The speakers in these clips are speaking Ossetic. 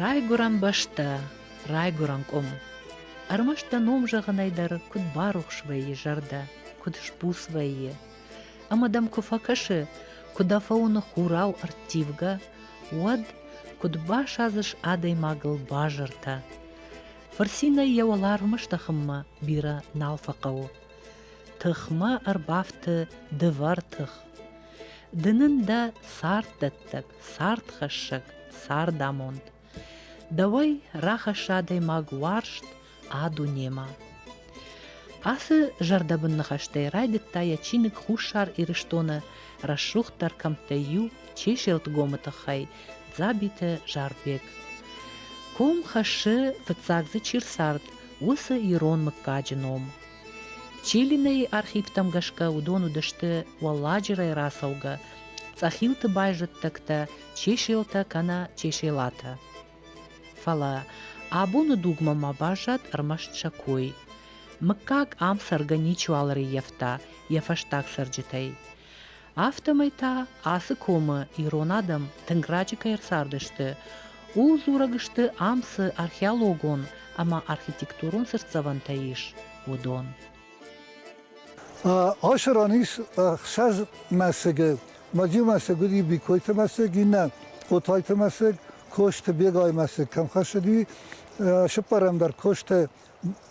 Райгуырӕн бӕстӕ, райгуырӕн къуым. Ӕрмӕст дӕ ном зӕгъынӕй дӕр куыд барухс вӕййы зӕрдӕ, куыд сбуц вӕййы. Ӕмӕ дӕм куы фӕкӕсы, куы дӕ фӕуыны хурау ӕрттивгӕ, уӕд куыд басадзыс адӕймагыл базыртӕ. Фырцинӕй йӕ уӕларвмӕ стӕхынмӕ бирӕ нал фӕхъӕуы. Тыхмӕ ӕрбафты дывӕр тых. Ды нын дӕ царддӕттӕг, цардхӕссӕг, цардамонд. Дӕуӕй рахӕссы адӕймаг уарзт а дунемӕ. Ацы зӕрдӕбын ныхӕстӕй райдыдта йӕ чиныг Хуссар Ирыстоны рӕсугъддӕр кӕмттӕй иу Чеселтгомы тыххӕй Дзабиты Зарбег. Ком хӕссы, фыццаг дзы чи рцард, уыцы ирон мыггаджы ном. Чилинейы архивтӕм гӕсгӕ уыдон уыдысты уӕлладжырӕй рацӕугӕ цъӕхилты байзӕддӕгтӕ чеселтӕ кӕнӕ чеселатӕ. Фӕлӕ абоны дугмӕ ма баззад ӕрмӕст сӕ кой. Мыггаг ам цӕргӕ ничиуал ӕрыййӕфта йӕ фӕстаг цӕрджытӕй. Афтӕмӕй та ацы комы ирон адӕм тынг раджы кӕй ӕрцардысты, ууыл дзурӕг сты ам цы археологон ӕмӕ архитектурон цыртдзӕвӕнтӕ ис, уыдон. Ашы ран ис ӕхсӕз мӕсыгы. Мадзи мӕсыг уыди Бикойты мӕсыг, иннӕ Отайты мӕсыг, Косты Бегайы мӕсыг кӕм хӕссыди, сыппӕрӕм дӕр Косты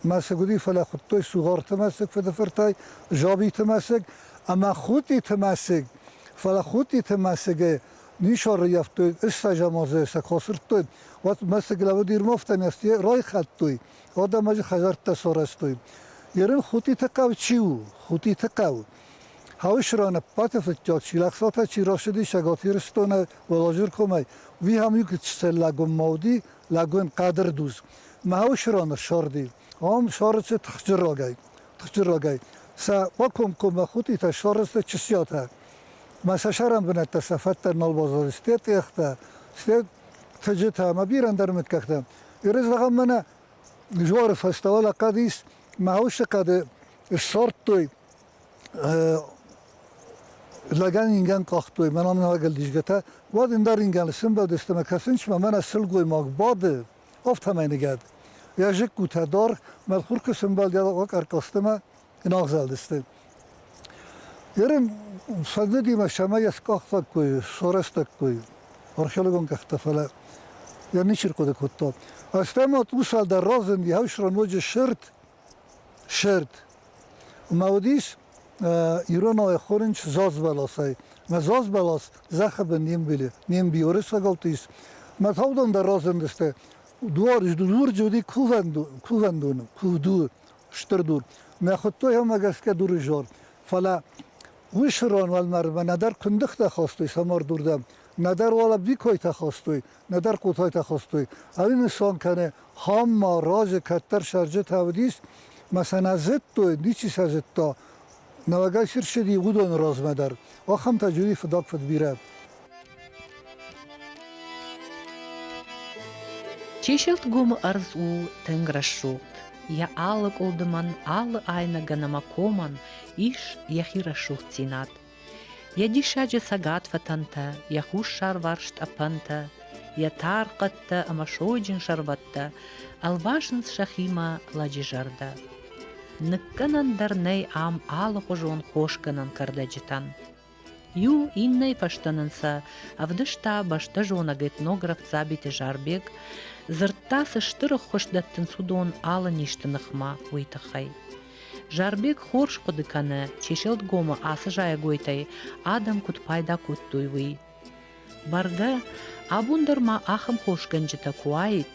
мӕсыгуыри, фӕлӕ хуыдтой Сугъарты мӕсыг фыдыфыртӕй, Жабиты мӕсыг ӕмӕ Хутъиты мӕсыг. Фӕлӕ Хутъиты мӕсыгы нисарӕййӕфтой, ыстӕзаморзӕй сӕ куы асырдтой, уӕд мӕсыг лӕуд Ирмовтӕн йӕ райхӕлдтой, уӕдӕм ӕджы хӕдзӕрттӕ сарӕзтой. Ерын Хутъиты хъӕу чи у? Хутъиты хъӕу. Хъӕуы Шыранӕппаты фыдтӕ Чилӕхсатӕ чи рашыди Цӕгат Ирыстоны Уӕлазӕркомӕй, уый ам иу Чцеллагоммӕ уыди, лӕгун хъӕдӕр дуз. Мӕуи сиронӕ сорди. Ом сорици тхджирогӕй. Тхджирогӕй. Сӕ къо комкоммӕ хутъитӕ сорици чысиотӕ. Ма сӕ сӕрӕн бунӕттӕ сӕ фӕдтӕ нӕлбозози сте тъехтӕ, сте тӕджитӕ ма бирӕндӕр митгӕгтӕ. Иры зӕгъӕм мӕнӕ жоры фӕстӕ уал хъӕд ис, мӕусы хъӕды сорттой Лӕгӕн ингӕн къахтой, мӕн амонӕгӕл дисгӕтӕ, уӕд ин дӕр ингӕн исӕмбӕлдыстӕ мӕ кӕсунцмӕ мӕнӕ силгоймаг бады, афтӕмӕй ныгӕд. Йӕ зыккутӕ дӕр мӕлхуркы сӕмбӕлдӕй къӕркъӕстимӕ ин агъзӕлдысты. Ерын фӕндыдимӕ сӕмӕ йӕ скъахтӕккой, сорӕстӕккой археологон къӕхтӕ, фӕлӕ йӕ ничи рхъуыды кодта. Ӕстӕмӕ тъусӕ дӕр разынди, ау, ноджы сырд Сӕрд. Ма уыдис иронау ӕххорынч зазбӕласӕй. Мӕ зазбӕлас зӕххыбын не мбилы, не мбиоры сагӕлты ис. Мӕ таудон дӕр разындысты. Дуар дур джы уыди кувӕндоны, кувду, стыр дур. Мӕ хуыдтойӕмӕ гӕсгӕ дурызор. Фӕлӕ уый сырон уӕлмӕрдмӕ нӕдӕр куындыхтӕ хастой самардурдӕм, нӕдӕр уал ӕбвикойтӕ хастой. нӕдӕр кутойтӕ хостой. Ӕримисон кӕне, хан ма рази кӕддӕр сӕрджытӕ уыдис, ма сӕ нӕ зыдтой, ничи сӕ зыдта. Нӕуӕгӕй сирсиди уыдоны размӕ дӕр. Ахӕмтӕ джуди фыдаг фыд бирӕ. Чеселтгомы ӕрдз у тынг рӕсугъд. Йӕ алы къуылдымӕн, алы айнӕгӕн ӕмӕ комӕн ис йӕхи рӕсугъддзинад. Йӕ диссаджы цӕгат фӕтӕнтӕ, йӕ хуссарварс тъӕпӕнтӕ, йӕ тар хъӕдтӕ ӕмӕ сойджын сӕрбӕттӕ ӕлвасынц сӕхимӕ лӕджы зӕрдӕ. Ныккӕнӕн дӕр нӕй ам алыхуызон хосгӕнӕн кӕрдӕджытӕн. Иу иннӕйы фӕстӕ нын сӕ ӕвдыста бӕстӕзонӕг этнограф Дзабиты Зарбег, дзырдта, цы стыр ӕххуыс дӕттынц уыдон алы низты ныхмӕ, уый тыххӕй. Зарбег хорз хъуыды кӕны, Чеселтгомы ацы зайӕгойтӕй адӕм куыд пайда кодтой, уый. Бӕргӕ, абон дӕр ма ахӕм хосгӕнджытӕ куы уаид,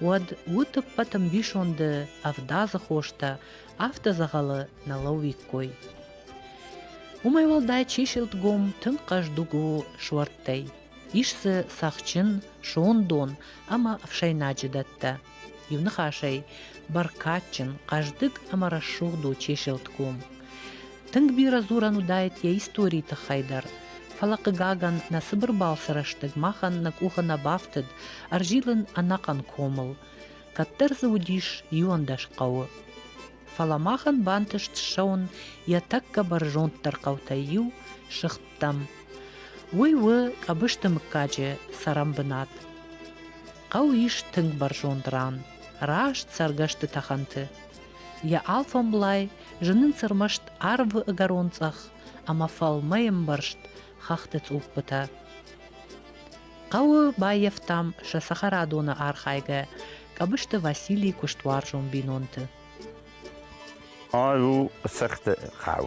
уӕд уыд ӕппӕт ӕмбисонды ӕвдадзы хостӕ, афтӕ дзӕгъӕлы нӕ лӕууиккой. Уымӕй уӕлдай чеселтгом тынг хъӕздыг у суӕрттӕй. Ис дзы цӕхджын, сондон ӕмӕ ӕфсӕйнаджы дӕттӕ. Иуныхасӕй, бӕркадджын, хъӕздыг ӕмӕ рӕсугъд у Чеселтгом. Тынг бирӕ дзурӕн уыдаид йӕ историйы тыххӕй дӕр, фӕлӕ, хъыгагӕн, нӕ цыбыр балцы рӕстӕг махӕн нӕ къухы нӕ бафтыд ӕрзилын ӕнӕхъӕн комыл. Кӕддӕр дзы уыдис иуӕндӕс хъӕуы. Фӕлӕ махӕн бантыст ссӕуын йӕ тӕккӕ бӕрзонддӕр хъӕутӕй иу, Сыгъд хъуыддӕттӕм. Уый у Къӕбысты мыггаджы цӕрӕнбынат. Хъӕу ис тынг бӕрзонд ран, раст цӕргӕсты тӕхӕнты. Йӕ алфӕмблай зынынц ӕрмӕст арвы ӕгӕрон цъӕх ӕмӕ фӕлмӕй ӕмбӕрзт хӕхты цъуппытӕ. Хъӕуы баййӕфтам сӕ цӕхӕрадоны архайгӕ Къӕбысты Василий куыстуарзон бинонты. Ай у цехты хъӕу.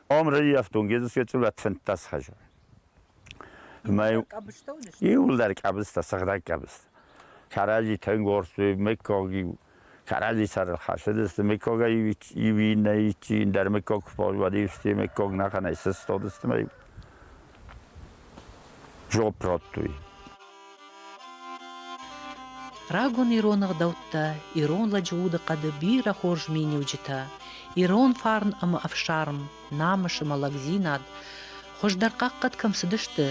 Омрӕйы ӕфтонгеды фӕчъулӕт фынддӕс хӕзы. Мӕй иуылдӕр къабызтӕ, сыгъдӕг къабыз. Кӕрӕдзи тенгорсты, мыггаг иу. Кӕрӕдзи сӕрыл хӕсыдысты, мыггагӕй иу иннӕ, иу индӕр мыггаг куы фӕуӕд, иу сты мыггаг нӕхъӕнӕй сыстадысты мӕ иу. Жоп радтой. Рагон ирон ӕгъдӕуттӕ, ирон лӕджы удыхъӕды бирӕ хорз миниуджытӕ, ирон фарн ӕмӕ ӕфсарм, намысы мӕлӕгдзинад хуыздӕр хъахъхъӕд кӕм цыдысты,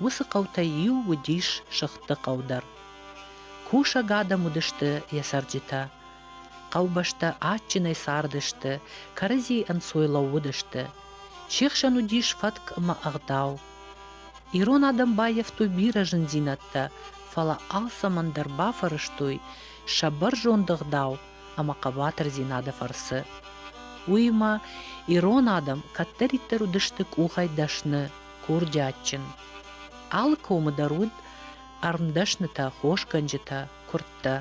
уыцы хъӕутӕй иу уыдис сыгъдты хъӕу дӕр. Кусӕг адӕм уыдысты йӕ цӕрджытӕ. Хъӕубӕстӕ адджынӕй цардысты, кӕрӕдзийы ӕнцой лӕууыдысты, Се хсӕн уыдис фӕтк ӕмӕ ӕгъдау. Ирон адӕм баййӕфтой бирӕ зындзинӕдтӕ, фӕлӕ алцӕмӕн дӕр бафӕрӕзтой сӕ бӕрзонд ӕгъдау ӕмӕ хъӕбатырдзинады фӕрцы. Уыимӕ ирон адӕм кӕддӕриддӕр уыдысты къухӕй дӕсны, курдиатджын. Алы комы дӕр уыд ӕрмдӕснытӕ, хосгӕнджытӕ, куырдтӕ.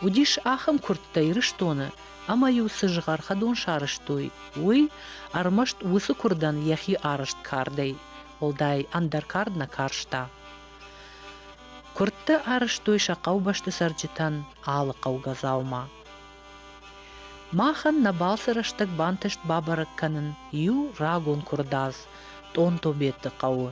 Уыдис ахӕм куырдтӕ Ирыстоны, ӕмӕ-иу цы згъӕр хӕдон сарӕзтой, уый ӕрмӕст уыцы куырдӕн йӕхи арӕзт кардӕй, уӕлдай ӕндӕр кард нӕ карста. Куырдты арӕзтой сӕ хъӕубӕсты цӕрджытӕн алы хъӕугӕ дзаума. Махӕн нӕ балцы рӕстӕг бантыст бабӕрӕг кӕнын иу рагон куырдадз Тъонтобеты хъӕуы.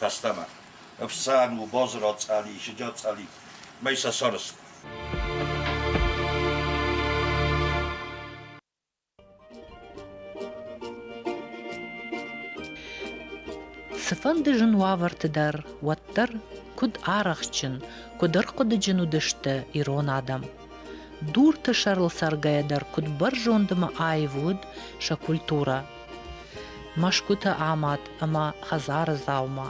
Фӕстӕмӕ ӕфсӕн у Бозыры цъӕли, Сыджӕтцъӕли мӕй сӕ сӕрст. Цыфӕнды зын уавӕрты дӕр уӕддӕр куыд арӕхстджын, куыд ӕрхъуыдыджын уыдысты ирон адӕм. Дурты сӕрыл цӕргӕйӕ дӕр куыд бӕрзонд ӕмӕ аив уыд сӕ культурӕ. Мӕсгуыты амад ӕмӕ хӕдзары дзаума,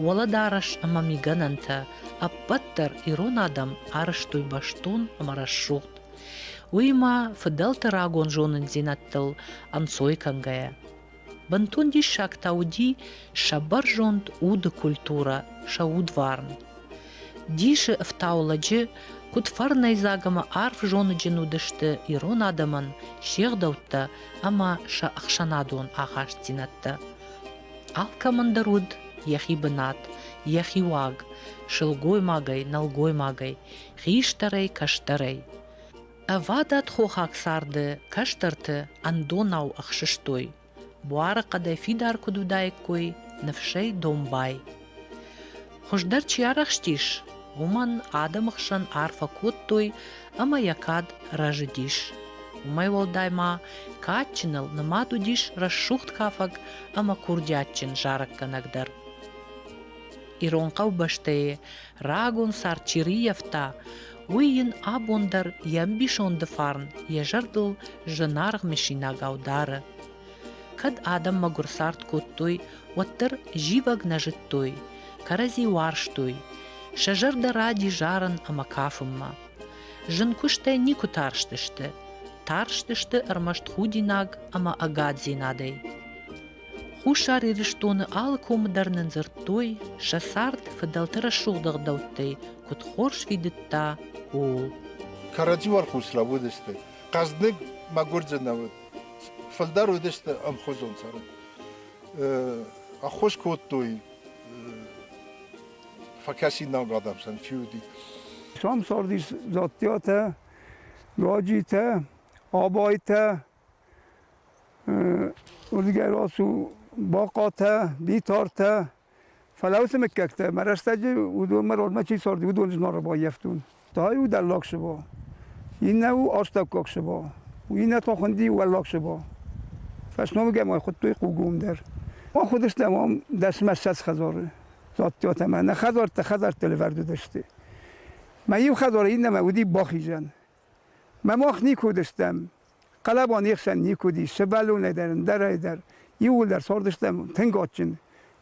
уӕлӕдарӕс ӕмӕ мигӕнӕнтӕ ӕппӕт дӕр ирон адӕм арӕзтой бӕстон ӕмӕ рӕсугъд. Уыимӕ фыдӕлты рагон зонындзинӕдтыл ӕнцой кӕнгӕйӕ. Бынтон диссаг та уыди сӕ бӕрзонд уды культурӕ, сӕ удварн. Дисы ӕфтау лӕджы, куыд фӕрнӕйдзаг ӕмӕ арф зоныджын уыдысты ирон адӕмӕн се гъдӕуттӕ ӕмӕ сӕ ӕхсӕнадон ахастдзинӕдтӕ. Алкӕмӕн дӕр уыд йӕхи бынат, йӕхи уаг, сылгоймагӕй, нӕлгоймагӕй, хистӕрӕй, кӕстӕрӕй. Ӕвадат хохаг царды кӕстӕрты ӕндонау ӕхсыстой, буары хъӕдӕй фидар куыд уыдаиккой ныфсӕй домбай. Хуыздӕр чи арӕхстис, уымӕн адӕмы хсӕн арфӕ кодтой ӕмӕ йӕ кад рӕзыдис. Уымӕй уӕлдай ма кадджыныл нымад уыдис рӕсугъд кафӕг ӕмӕ курдиатджын зарӕггӕнӕг дӕр. Ирон хъӕубӕстӕй Рагон цард чи рыййӕфта, уый йын абон дӕр йӕ ӕмбисонды фарн йӕ зӕрдыл зынаргъ мысинагау дары. Кӕд адӕм мӕгуыр цард кодтой, уӕддӕр зивӕг нӕ зыдтой, кӕрӕдзи уарзтой, сӕ зӕрдӕ ради зарын ӕмӕ кафынмӕ. Зын куыстӕй никуы тарстысты, тарстысты ӕрмӕст худинаг ӕмӕ ӕгаддзинадӕй. Хуссар Ирыстоны алы комы дӕр нын дзырдтой, сӕ цард фыдӕлты рӕсугъд ӕгъдӕуттӕй куыд хорз фидыдта, ууыл. Кӕрӕдзи уӕрхъус лӕууыдысты. Хъӕздыг, мӕгуырджын уыд. Фылдӕр уыдысты ӕмхуызон цӕрӕн. Ӕххуыс кодтой фӕкӕсинаг адӕм сӕн чи уыди. Самсардис Дзаттиатӕ, Гаджитӕ, Абайтӕ, Уырдыгӕй рацу бахъатӕ, битартӕ, фӕлӕ уыцы мыггӕгтӕ мӕ рӕстӕджы уыдонмӕ родмӕ чи царди, уыдоны зноры баййӕфтон. Та иу дӕллаг сыба, иннӕ у астаккаг сыба, иннӕ та хуынди уӕллаг сыба. Фӕсномыгӕй ма хуыдтой хъугом дӕр. Ахуыдыстӕм ам дӕсмӕссӕдз хӕдзары, зӕдтӕ ӕмӕ нӕ хӕдзӕрттӕ хӕдзӕртты лӕвӕрд уыдысты. Мӕ иу хӕдзары иннӕмӕ уыди бахизӕн. Мӕ мах никуы уыдыстӕм, хъӕлӕба не хсӕн никуы уыди, сывӕллонӕй дӕр, ӕндӕрӕй дӕр. Иууылдӕр цардыстӕм тынг адджын.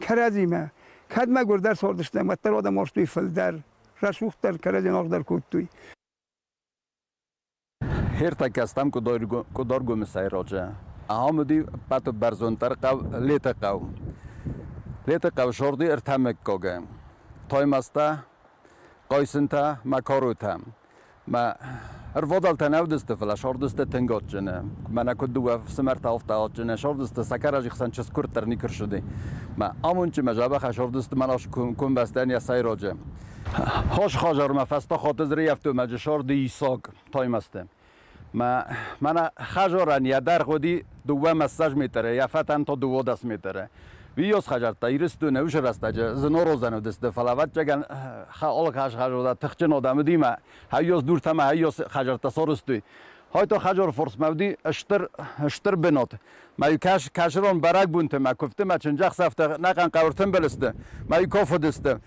Кӕрӕдзимӕ. Кӕд мӕгуырдӕр цардыстӕм, уӕддӕр адӕм уарзтой фылдӕр, рӕсугъддӕр, кӕрӕдзи ӕнӕргъдӕр кодтой. Хиртӕккӕ стӕм Къуыдаргомысӕй раджы. Ахӕм уыди ӕппӕтбӕрзонддӕр хъӕу Летыхъӕу. Летыхъӕу зӕрди ӕртӕ мыггагы. Таймӕзтӕ, Хъайсынтӕ, Макаротӕ. Мӕ ӕрвадӕлтӕ нӕ уыдысты, фӕлӕ сӕрдысты тынг адджыны. Мӕнӕ куыд дыууӕ фсымӕрты афтӕ адджыны, сӕрдысты сакарази хсӕн чызг-куырд дӕр никуы рсыди. Мӕ амондджын мӕ дзӕбӕхӕй сӕрдысты Мӕнас комбӕстӕн йӕ сӕйраджы хӕс хӕдзармӕ фӕстӕ Хатызрыйӕфтоймаджы сӕрды Исак Таймӕзты. Мӕнӕ хажорӕн йӕ дӕр гъуди дууӕ-массаж метрӕй, афӕтӕн то дыууодӕс метрӕй. Уый ёс хӕзӕрттӕ Ирыстоны ус рӕстӕджы зынородзӕн уыдысты, фӕлӕ ӕвӕццӕгӕн хаолог хӕзхӕзода тыхджын одам уыдимӕ хайёс дуртӕмӕ хайёс хӕзӕрттӕ сорыстой. Хойты хӕзор форсмӕ уыди стыр, стыр бынат. Мӕ кӕс, кӕсырон бӕрӕгбонты мӕ куывдты мӕ чындзӕхсӕвтӕ нӕхъӕн хъӕуы тымбыл сты, мӕ куыф уыдысты.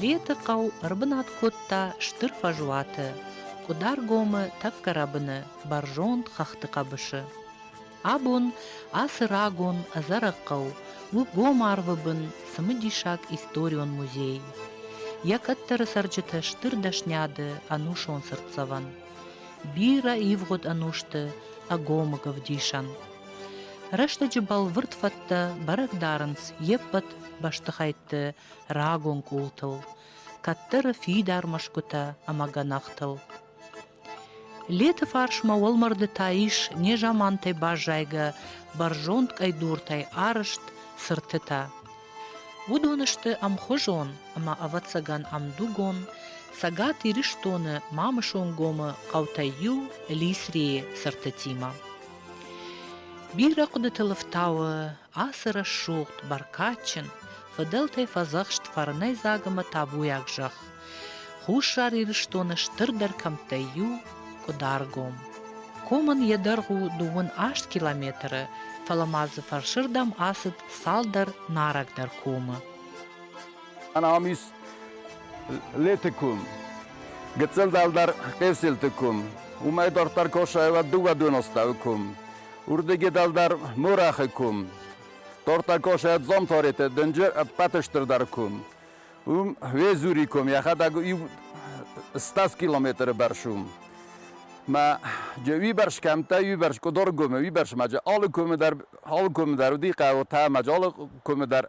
Леты хъӕу ӕрбынат кодта стыр фӕзуаты, Къуыдаргомы тӕккӕ рӕбыны бӕрзонд хӕхты хъӕбысы. Абон ацы рагон ӕдзӕрӕг хъӕу у гом арвы бын цымыдисаг историон музей. Йӕ кӕддӕры цӕрджыты стыр дӕсниады ӕнусон цыртдзӕвӕн. Бирӕ ивгъуыд ӕнусты ӕгомыг ӕвдисӕн. Рӕстӕджы бӕлвырд фӕдтӕ бӕрӕг дарынц йе ппӕт бӕстыхӕйтты рагон къултыл, кӕддӕры фидар мӕсгуытӕ ӕмӕ гӕнахтыл. Леты фарсмӕ уӕлмӕрды та ис незамантӕй баззайгӕ бӕрзонд къӕйдуртӕй арызт цыртытӕ. Уыдон сты ӕмхуызон ӕмӕ ӕвӕццӕгӕн ӕмдугон Цӕгат Ирыстоны Мамысонгомы хъӕутӕй иу Лисрийы цыртытимӕ. Бирӕ хъуыдыты лыфтауы ацы рӕсугъд, бӕркадджын, фыдӕлтӕй фӕдзӕхст фӕрнӕйдзаг ӕмӕ табуйаг зӕхх, Хуссар Ирыстоны стырдӕр кӕмттӕй иу – Къуыдаргом. Комӕн йӕ дӕргъ у дыууын аст километры, фӕлӕ ма дзы фӕрсырдӕм ацыд цалдӕр нарӕгдӕр комы. Ӕнамис леты кум, гыццыл дӕлдӕр къесилты кум, уымӕй дарддӕр косайла дыууӕдонастау кум, урдыги дӕлдӕр морахы кум, тортӕ косайа дзомтореты дынджы ӕппӕты стырдӕр кум. Уым Везури кум йӕхӕдӕг иу 100 километры бӕрц у. Мӕ уибӕрс кӕмттӕ, уибӕрс къуыдор кумы, уибӕрс ма алы кумы дӕр, алы кумы дӕр уыди хъӕуы та ма алы кумы дӕр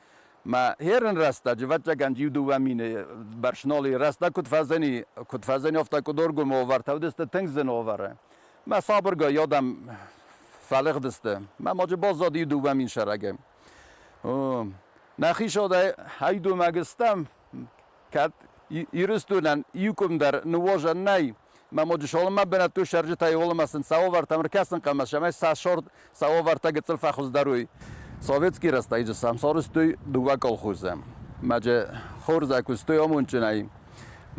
Ма херӕн рӕстӕджы вӕтчъагӕн иу-дыууӕ мины бӕрц ноли рӕстӕг куыд фӕзӕни, куыд фӕзӕниуфта къуыдоргомы овар, тӕвдысты тынг зын овары. Мӕ сабыргай адӕм фӕлыгъдысты. Мӕ ноджы баззад иу-дыууӕ мин сӕрагӕй. Нӕхи сӕдӕй ӕй думӕг стӕм, Кӕд Ирыстонӕн иукъуымдӕр ныгъуызӕн нӕй, мӕ Моджысолымӕ бынӕттон цӕрджытӕй уӕлӕмӕ сын цауавартӕм ӕркӕсын хъӕмӕс, цӕмӕй сӕ сӕрд цауавартӕ гыццыл фӕхуыздӕруой. Советский рӕстӕджы сӕм сарӕзтой дыууӕ колхозы. Ноджы хурзӕй куыстой амондджынӕй.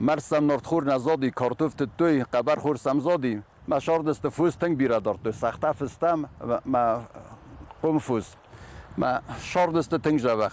Мард сӕм нартхор нӕ зади, картоф тыдтой, хъӕбӕрхор сӕм зади. Мӕ сӕрдысты фос тынг бирӕ дардтой, цагъта фыстам, мӕ къуымфус, мӕ сӕрдысты тынг зӕвӕх.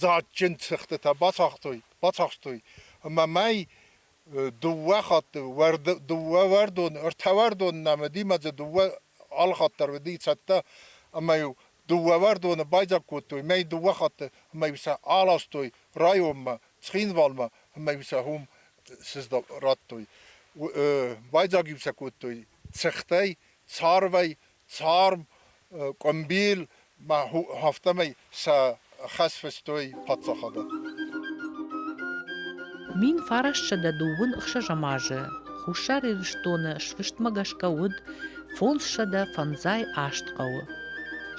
дзаджджын цыхтытӕ бацахстой ӕмӕ мӕй дыууӕ хатты дыууӕуӕрдон, ӕртӕуӕрдон нӕ мыдимӕдзы дыууӕ алхатт дӕр уыди цӕттӕ ӕмӕ-иу дыууӕуӕрдоны байдзаг кодтой мӕй дыууӕ хатты ӕмӕ-иу сӕ аластой районмӕ, Цхинвалмӕ ӕмӕ-иу сӕ уым радтой. Байдзаг-иу сӕ кодтой цыхтӕй, царвӕй, Царм, къуымбил ма афтӕмӕй сӕ хӕс фыстой паддзахадӕн. Мин фарасtsӕдӕ дыууын ӕхсӕзӕм азы Хуссар Ирыстоны сфыстмӕ гӕсгӕ уыд фондзсӕдӕ фӕндзай аст хъӕуы.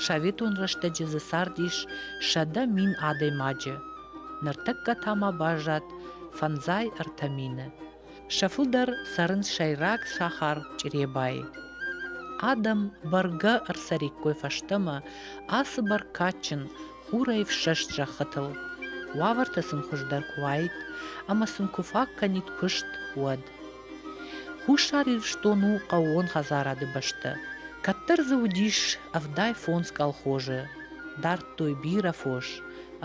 Советон рӕстӕджы дзы цардис сӕдӕ мин адӕймаджы, ныртӕккӕ та ма баззад фӕндзай ӕртӕ мины. Сӕ фылдӕр цӕрынц сӕйраг сахар Чъребайы. Адӕм бӕргӕ ӕрцӕриккой фӕстӕмӕ ацы бӕркадджын хурӕй ӕфсӕст зӕххытыл, уавӕртӕ сын хуыздӕр куы уаид ӕмӕ сын куы фаг кӕнид куыст, уӕд. Хуссар Ирыстон у хъӕууон хӕдзарады бӕстӕ. Кӕддӕр дзы уыдис ӕвдай фондз колхозы, дардтой бирӕ фос,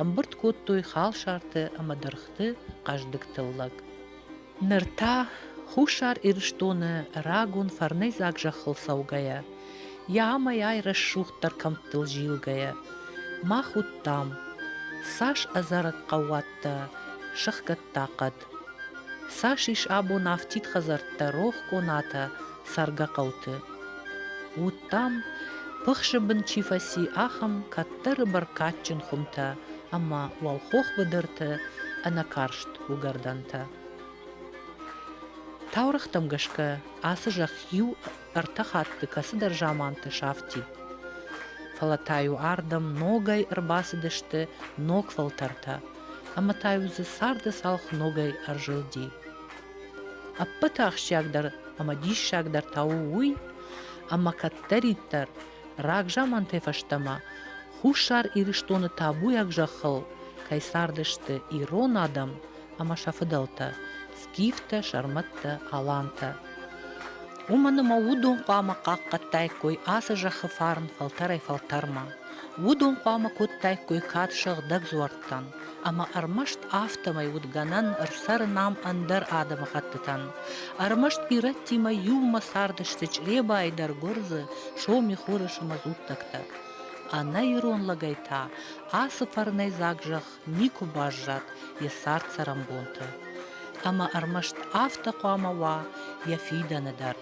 ӕмбырд кодтой халсарты ӕмӕ дыргъты хъӕздыг тыллӕг. Ныр та, Хуссар Ирыстоны рагон фӕрнӕйдзаг зӕххыл цӕугӕйӕ, йӕ амӕй-ай рӕсугъддӕр кӕмттыл зилгӕйӕ, мах уыдтам, цас ӕдзӕрӕг хъӕууӕттӕ сыхгӕдта хъӕд, цас ис абон афтид хӕдзӕрттӕ рох конатӕ цӕргӕ хъӕуты. Уыдтам, пыхсы бын чи фӕци, ахӕм кӕддӕры бӕркадджын хуымтӕ ӕмӕ уӕлхох быдырты ӕнӕкарст уыгӕрдӕнтӕ. Таурӕгътӕм гӕсгӕ ацы зӕхх иу-ӕртӕ хатты кӕцыдӕр заманты сафти. Фӕлӕ та-иу ардӕм ногӕй ӕрбацыдысты ног фӕлтӕртӕ, ӕмӕ та-иу дзы царды цалх ногӕй ӕрзылди. Ӕппӕты ахсджиагдӕр ӕмӕ диссагдӕр та у уый, ӕмӕ кӕддӕриддӕр Рагзамантӕ фӕстӕмӕ Хуссар Ирыстоны табуйаг зӕххыл кӕй цардысты ирон адӕм ӕмӕ сӕ фыдӕлтӕ Скифтӕ, сӕрмӕттӕ, алантӕ. Уымӕн ӕмӕ уыдон хъуамӕ хъахъхъӕдтаиккой ацы зӕххы фарн фӕлтӕрӕй-фӕлтӕрмӕ. Уыдон хъуамӕ кодтаиккой кад сыгъдӕг дзуӕрттӕн, ӕмӕ ӕрмӕст афтӕмӕй уыд гӕнӕн ӕрцӕрын ам ӕндӕр адӕмыхӕттытӕн. Ӕрмӕст ирӕттимӕ иумӕ цардысты Чъребайы дӕр гуырдзы, соми, хорысы мазуттӕгтӕ. Ӕнӕ ирон лӕгӕй та ацы фӕрнӕйдзаг зӕхх никуы баззад йӕ цард-цӕрӕнбонты. Ӕмӕ ӕрмӕст афтӕ хъуамӕ уа йӕ фидӕны дӕр.